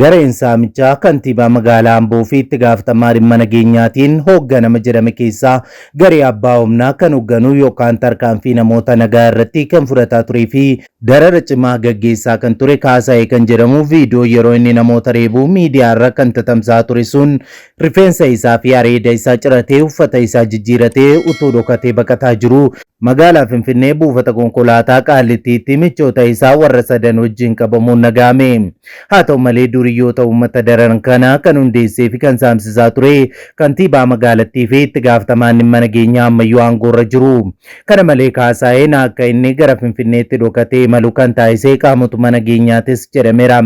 Gareen saamichaa kantiibaa magaalaa Amboo fi itti gaafatamaa dhimma nageenyaatiin hoogganama jedhame keessaa garee abbaa humnaa kan hoogganuu yookaan tarkaanfii namoota nagaa irratti kan fudhataa turee fi darara cimaa gaggeessaa kan ture Kaasaayee kan jedhamu viidiyoo yeroo inni namoota reebuu miidiyaa irra kan tatamsaa ture sun Rifeensa isaa fi areeda isaa ciratee uffata isaa jijjiiratee utuu dhokatee baqataa jiruu magaalaa Finfinnee buufata konkolaataa Qaallittiitti michoota isaa warra sadan wajjin qabamuun dhaga'ame. Haa ta'u malee duuriyyoota uummata dararan kana kan hundeessee fi kan saamsisaa ture kantiibaa magaalattii fi itti gaafatamaan dhimma nageenyaa ammayyuu aangoorra jiru. Kana malee Kaasaayeen akka inni gara Finfinneetti dhokatee imalu kan taasise qaamotuma nageenyaatis jedhameera.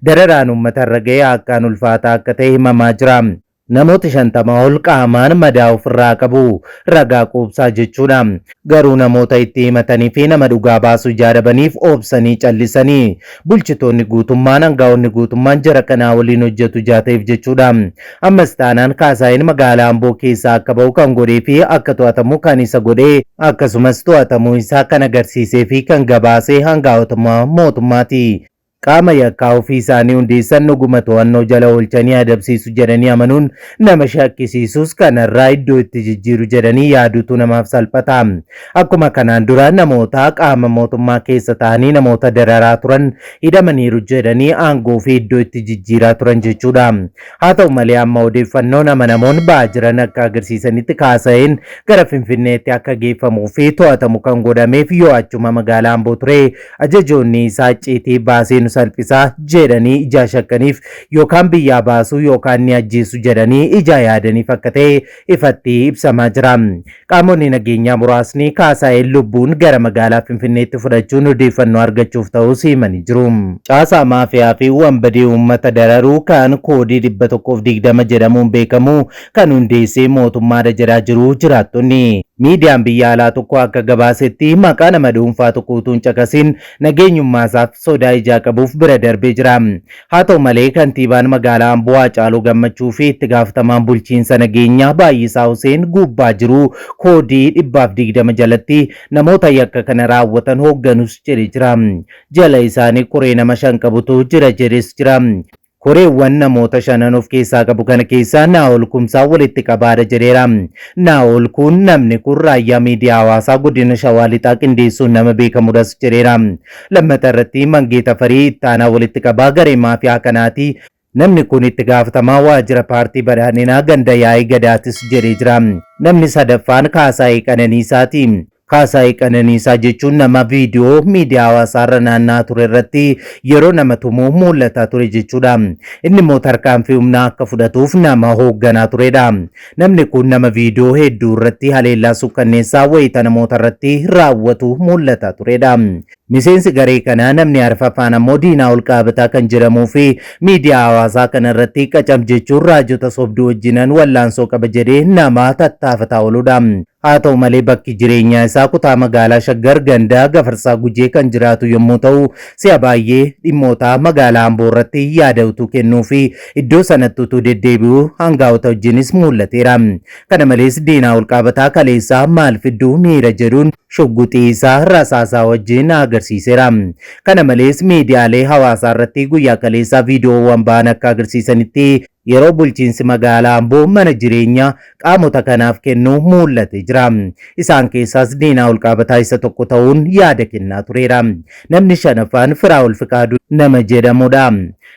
Dararaan uummatarra ga'e akkaan ulfaataa akka ta'e himamaa jira. Namooti 50 ol qaamaan madaa ofirraa qabu. Ragaa quubsaa jechuudha. Garuu namoota itti himatanii fi nama dhugaa baasu ijaa dhabaniif obsanii callisani. Bulchitoonni guutummaan, angaa'onni guutummaan jara kanaa waliin hojjetu ijaa ta'eef jechuudha. Ammas taanaan Kaasaayeen magaalaa Amboo keessaa akka ba'u kan godhee fi akka to'atamu kan isa godhe akkasumas to'atamuu isaa kan agarsiisee fi kan gabaase angaa'otuma mootummaati. Qaama yakkaa ofii isaanii hundeessan dhuguma to'annoo jala oolchanii adabsiisu jedhanii amanuun nama shakkisiisus kanarraa iddoo itti jijjiiru jedhanii yaaduutu namaaf salphata. Akkuma kanaan dura namoota qaama mootummaa keessa ta'anii namoota dararaa turan hidhamaniiru jedhanii aangoo fi iddoo itti jijjiiraa turan jechuudha. Haa ta'u malee amma odeeffannoon amanamoon ba'aa jiran akka agarsiisanitti Kaasaheen gara Finfinneetti akka geeffamuu fi to'atamu kan godhameef yoo achuma magaalaa Amboo ture Ajajoonni isaa icciitii baasee nu salphisa jedhanii ijaa shakkaniif yookaan biyyaa baasuu yookaan ni ajjeesu jedhanii ijaa yaadaniif akka ta'e ifatti ibsamaa jira. Qaamonni nageenyaa muraasni Kaasaayeen lubbuun gara magaalaa Finfinneetti fudhachuun odeeffannoo argachuuf ta'uus himanii jiru. Caasaa maafiyaa fi wanbadee uummata dararuu kan koodii 120 jedhamuun beekamu kan hundeesse mootummaadha jedhaa jiru jiraattonni. Miidiyaan biyya alaa tokko akka gabaasetti maqaa nama dhuunfaa tokko utuu hin caqasiin nageenyummaasaaf sodaa ijaa qabuuf bira darbee jira. Haa ta'u malee kantiibaan magaalaa Amboo Haacaaluu Gammachuu fi itti gaafatamaan bulchiinsa nageenyaa Baay'isaa Huseen guubbaa jiru koodii dhibbaaf digdama jalatti namoota yakka kana raawwatan hoogganus jedhe jira. Jala isaanii koree nama shan qabutu jira jedhes jira. Koreewwan namoota shanan of keessaa qabu kana keessaa Naa'ol Kumsaa walitti qabaadha jedheera. Naa'ol kun namni kun raayyaa miidiyaa hawaasaa godina Shawaa Lixaa qindeessuun nama beekamudhas jedheera. Lammata irratti Mangee Tafarii ittaanaa walitti qabaa garee maafiyaa kanaati. Namni kun itti gaafatamaa waajjira paartii badhaadhinaa ganda yaa'ii gadaatis jedhee jira. Namni sadaffaan Kaasaayee Qananiisaati. Kaasaay Qananiisaa jechuun nama viidiyoo miidiyaa hawaasaa irra naanna'aa ture irratti yeroo nama tumu mul'ataa ture jechuudha. Inni immoo tarkaanfii humnaa akka fudhatuuf nama hoogganaa turedha. Namni kun nama viidiyoo hedduu irratti haleellaa sukkanneessaa wayita namoota irratti raawwatu mul'ataa turedha. Miseensi garee kanaa namni arfaffaan ammoo diinaa ol qaabataa kan jedhamuu fi miidiyaa hawaasaa kana irratti qacam jechuun raajota sobduu wajjinan wallaansoo qaba jedhee nama tattaafataa ooludha. Haa ta'u malee bakki jireenyaa isaa kutaa magaalaa Shaggar ganda Gafarsaa Gujee kan jiraatu yommuu ta'u, si'a baay'ee dhimmoota magaalaa Amboo irratti yaada utuu kennuu fi iddoo sanatti utuu deddeebi'u aangaa'ota wajjinis muul'ateera. Kana malees diinaa olqaabataa kaleessaa maal fidduu miira jedhuun shugguxii isaa rasaasaa wajjin na agarsiiseera. Kana malees miidiyaalee hawaasaa irratti guyyaa kaleessaa viidiyoowwan ba'an akka agarsiisanitti Yeroo bulchiinsi magaalaa Amboo mana jireenyaa qaamota kanaaf kennu muul'ate jira. Isaan keessaas Diinaa Olqaabataa isa tokko ta'uun yaada kennaa tureera. Namni shanaffaan Firaa'ol Fiqaaduu nama jedhamudha.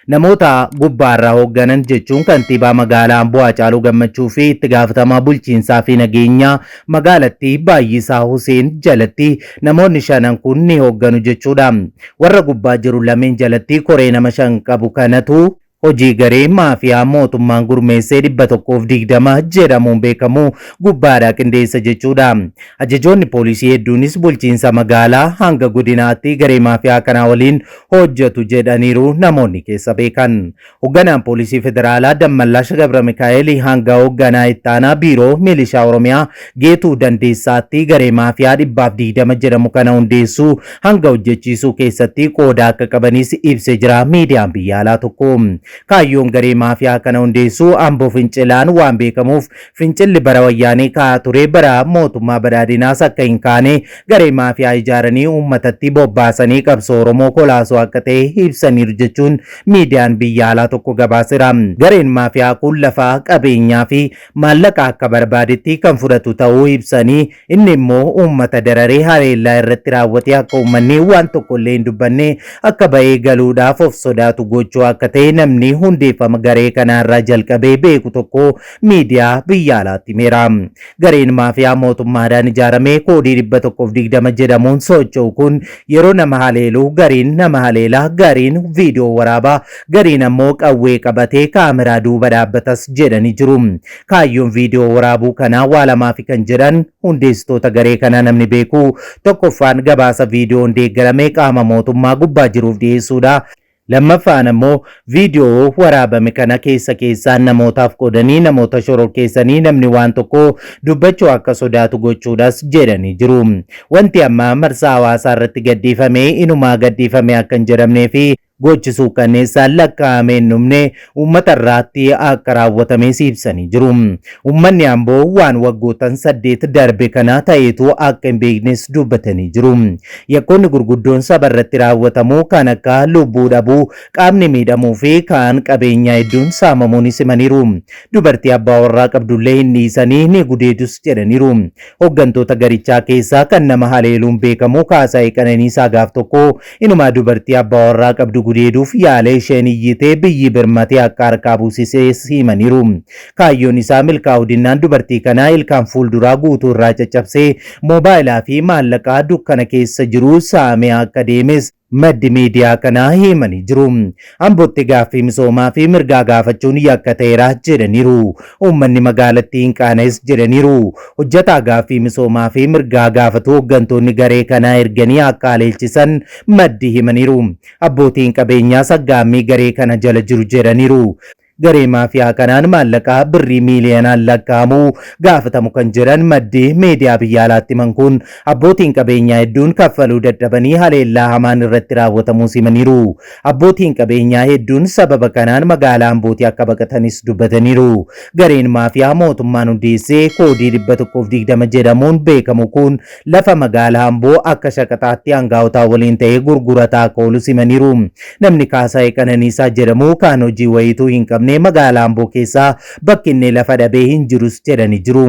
Namoota gubbaarraa hoogganan jechuun kantiibaa magaalaa Amboo Haacaaluu Gammachuu fi itti gaafatamaa bulchiinsaa fi nageenyaa magaalattii Baayyisaa Huseen jalatti namoonni shanan kun ni hoogganu jechuudha. Warra gubbaa jiru lameen jalatti koree nama shan qabu kanatu Hojii garee maafiyaa mootummaan gurmeessee 120 jedhamuun beekamu gubbaadhaa qindeessa jechuudha. Ajajoonni poolisii hedduunis bulchiinsa magaalaa hanga godinaatti garee maafiyaa kanaa waliin hojjetu jedhaniiru namoonni keessa beekan. Hogganaan poolisii federaalaa Dammallash Gabramikaa'el hanga hogganaa ittaanaa biiroo milishaa Oromiyaa Geetuu Dandeessaatti garee maafiyaa 120 jedhamu kana hundeessuu hanga hojjechiisuu keessatti qooda akka qabanis ibse jira miidiyaan biyya alaa tokko. Kaayyoon garee maafiyaa kana hundeessuu ambo fincilaan waan beekamuuf fincilli bara wayyaanee ka'aa ture bara mootummaa badhaadhinaas akka hin kaane garee maafiyaa ijaaranii uummatatti bobbaasanii qabsoo Oromoo kolaasuu akka ta'e ibsaniiru jechuun miidiyaan biyya alaa tokko gabaaseera. Gareen maafiyaa kun lafaa qabeenyaa fi maallaqa akka barbaadetti kan fudhatu ta'uu ibsanii Inni immoo uummata dararee haleellaa irratti raawwatee akka uummanni waan tokko illee hin dubbanne akka ba'ee galuudhaaf of sodaatu gochuu akka ta'e namni hundeeffama garee kanaa irraa jalqabee beeku tokko miidiyaa biyya alaatti himeera. Gareen maafiyaa mootummaadhaan ijaarame koodii 120 jedhamuun socho'u kun yeroo nama haleelu gariin nama haleela, gariin viidiyoo waraaba, gariin ammoo qawwee qabatee kaameraa duuba dhaabbatas jedhanii jiru. Kaayyoon viidiyoo waraabuu kanaa waa lamaafi kan jedhan hundeessitoota garee kanaa namni beeku tokkoffaan gabaasa viidiyoon deeggarame qaama mootummaa gubbaa jiruuf dhiyeessuudha. Lammaffaan ammoo viidiyoo waraabame kana keessa keessaan namootaaf qoodanii namoota shororkeessanii namni waan tokko dubbachuu akka sodaatu gochuudhas jedhanii jiru. Wanti amma marsaa hawaasaa irratti gadhiifame inumaa gadhiifame akka hin jedhamnee fi Gochi suukkanneessaan lakkaa'amee hin dhumne uummata irraatti akka raawwatamees ibsanii jiru. Uummanni Amboo waan waggootan saddeet darbe kanaa ta'eetu akka hin beeknes dubbatanii jiru. Yakkoonni gurguddoon saba irratti raawwatamu kan akka lubbuu dhabuu, qaamni miidhamuu fi kaan qabeenyaa hedduun saamamuunis himaniiru. Dubartii abbaa warraa qabdullee hin dhiisanii ni gudeedus jedhaniiru. Hoggantoota garichaa keessaa kan nama haleeluun beekamu Kaasaayee Qananiisaa gaaf tokko inumaa dubartii abbaa warraa qabdu gudeeduuf yaale isheen iyyitee biyyi birmatee akka harkaa buusisees himaniiru. Kaayyoon isaa milkaa'uu dinnaan dubartii kanaa ilkaan fuulduraa guutuu irraa caccabsee moobaayilaa fi maallaqaa dukkana keessa jiru saamee akka deemes maddi miidiyaa kanaa himanii jiru. Ambootti gaaffii misoomaa fi mirgaa gaafachuun yakka ta'eera jedhaniiru. Uummanni magaalattii hin qaana'es jedhaniiru. Hojjataa gaaffii misoomaa fi mirgaa gaafatu hooggantoonni garee kanaa erganii akka haleelchisan maddi himaniiru. Abbootiin qabeenyaas aggaammii garee kana jala jiru jedhaniiru. Garee maafiyaa kanaan maallaqaa birrii miiliyoonaan lakkaa'amu gaafatamu kan jiran maddi meediyaa biyya alaatti himan kun abbootiin qabeenyaa hedduun kaffaluu dadhabanii haleellaa hamaan irratti raawwatamuus himaniiru. Abbootiin qabeenyaa hedduun sababa kanaan magaalaa Ambootii akka baqatanis dubbataniiru. Gareen maafiyaa mootummaan hundeessee koodii 120 jedhamuun beekamu kun lafa magaalaa Amboo akka shaqaxaatti aangaa'otaa waliin ta'ee gurgurataa akka oolus himaniiru. Namni Kaasaayee Qananiisaa jedhamu kaan hojii wayiituu hin qabne magaalaa Amboo keessaa bakki inni lafa dhabee hin jirus jedhanii jiru.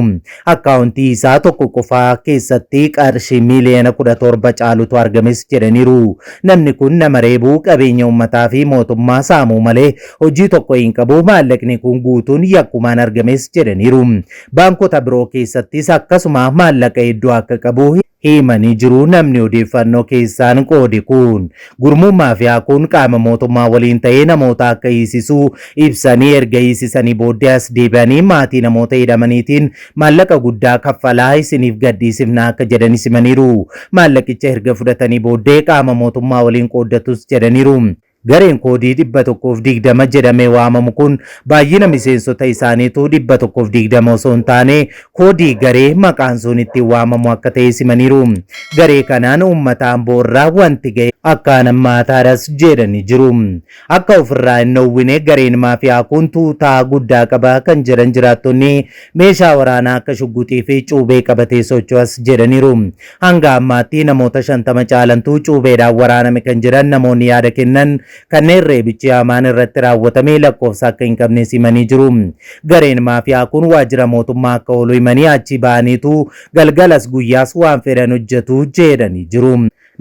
Akkaawuntii isaa tokko qofaa keessatti qarshii miiliyoona kudha torba caalutu argames jedhaniiru. Namni kun nama reebuu qabeenya uummataa fi mootummaa saamuu malee hojii tokko hin qabu maallaqni kun guutuun yakkumaan argames jedhaniiru. Baankota biroo keessattis akkasuma maallaqa hedduu akka qabu himanii jiru namni odeeffannoo keessaan qoode kun. Gurmuun maafiyaa kun qaama mootummaa waliin ta'ee namoota akka hiisisu ibsanii erga hiisisanii booddee as deebi'anii maatii namoota hidhamaniitiin maallaqa guddaa kaffalaa isiniif gadhiisifna akka jedhanis himaniiru. Maallaqicha erga fudhatanii booddee qaama mootummaa waliin qooddatus jedhaniiru. Gareen koodii 120 jedhamee waamamu kun baay'ina miseensota isaaniitu 120 osoo hin taane koodii garee maqaan sun ittiin waamamu akka ta'es himaniiru. Garee kanaan uummata Amboo irra wanti gahe akkaan hammaataadhas jedhanii jiru. Akka ofirraa hin dhoowwine gareen maafiyaa kun tuutaa guddaa qaba kan jedhan jiraattonni meeshaa waraanaa akka shugguxii fi cuubee qabatee socho'as jedhaniiru. Hanga ammaatti namoota 50 caalantu cuubeedhaan waraaname kan jedhan namoonni yaada kennan kanneen reebichi hamaan irratti raawwatame lakkoofsa akka hin qabnes himanii jiru. Gareen maafiyaa kun waajjira mootummaa akka oolu himanii achii ba'aniitu galgalas guyyaas waan fedhan hojjetu jedhanii jiru.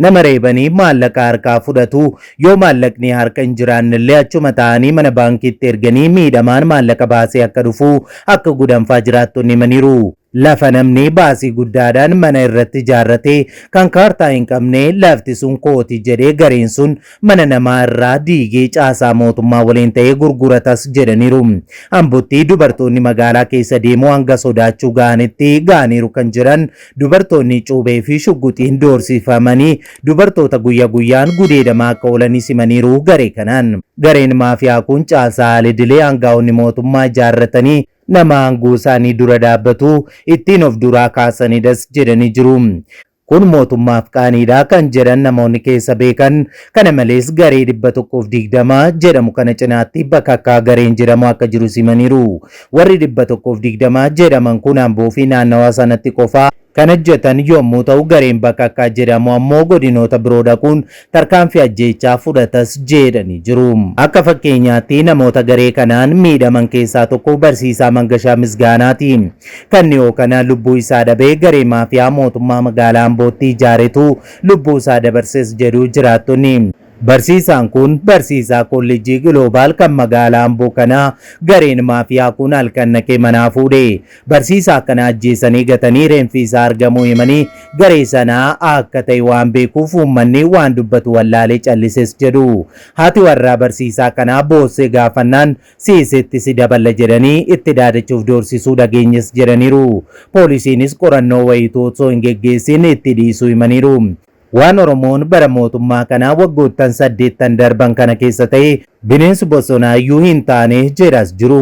Nama reebanii maallaqa harkaa fudhatu. Yoo maallaqni harka hin jiraannellee achuma taa'anii mana baankiitti erganii miidhamaan maallaqa baasee akka dhufu akka gudanfaa jiraattonni himaniiru. Lafa namni baasii guddaadhaan mana irratti ijaarrate kan kaartaa hin qabne lafti sun kooti jedhee gareen sun mana namaa irraa diigee caasaa mootummaa waliin ta'ee gurguratas jedhaniiru. Ambotti dubartoonni magaalaa keessa deemuu hanga sodaachuu ga'anitti ga'aniiru kan jedhan dubartoonni cuubee fi shugguxiin doorsifamanii dubartoota guyya guyyaan gudeedamaa akka oolanis himaniiru garee kanaan. Gareen maafiyaa kun caasaa al-idilee aangaa'onni mootummaa ijaarratanii nama aangoo isaanii dura dhaabbatu ittiin of duraa kaasanidhas jedhanii jiru. Kun mootummaaf qaaniidha kan jedhan namoonni keessa beekan kana malees garee 120 jedhamu kana cinaatti bakakkaa gareen jedhamu akka jirus himaniiru. Warri 120 jedhaman kun Amboo fi naannawaa sanatti qofa Kan ajjetan yoommuu ta'u gareen Bakakkaa jedhamu ammoo godinoota biroo dhaquun tarkaanfii ajjeechaa fudhatas jeedhanii jiru. Akka fakkeenyaatti namoota garee kanaan miidhaman keessaa tokko barsiisaa Mangashaa Misgaanaati. Kan dhiyoo kana lubbuu isaa dhabe garee maafiyaa mootummaa magaalaa Ambootti ijaaretu lubbuu isaa dabarses jedhu jiraattonni. Barsiisaan kun barsiisaa Kolleejjii Giloobaal kan magaalaa Amboo kana gareen maafiyaa kun halkan dhaqee manaa fuudhe. Barsiisaa kana ajjeesanii gatanii reenfi isaa argamuu himanii garee sanaa akka ta'e waan beekuuf uummanni waan dubbatu wallaalee callises jedhu. Haati warraa barsiisaa kanaa boossee gaafannaan siiseetti si daballa jedhanii itti daadachuuf doorsisuu dhageenyes jedhaniiru. Poolisiinis qorannoo wayiituu osoo hin geggeessiin itti dhiisuu himaniiru. Waan Oromoon bara mootummaa kanaa waggoottan saddeettan darban kana keessa ta'e bineensi bosonaa iyyuu hin taane jedhas jiru.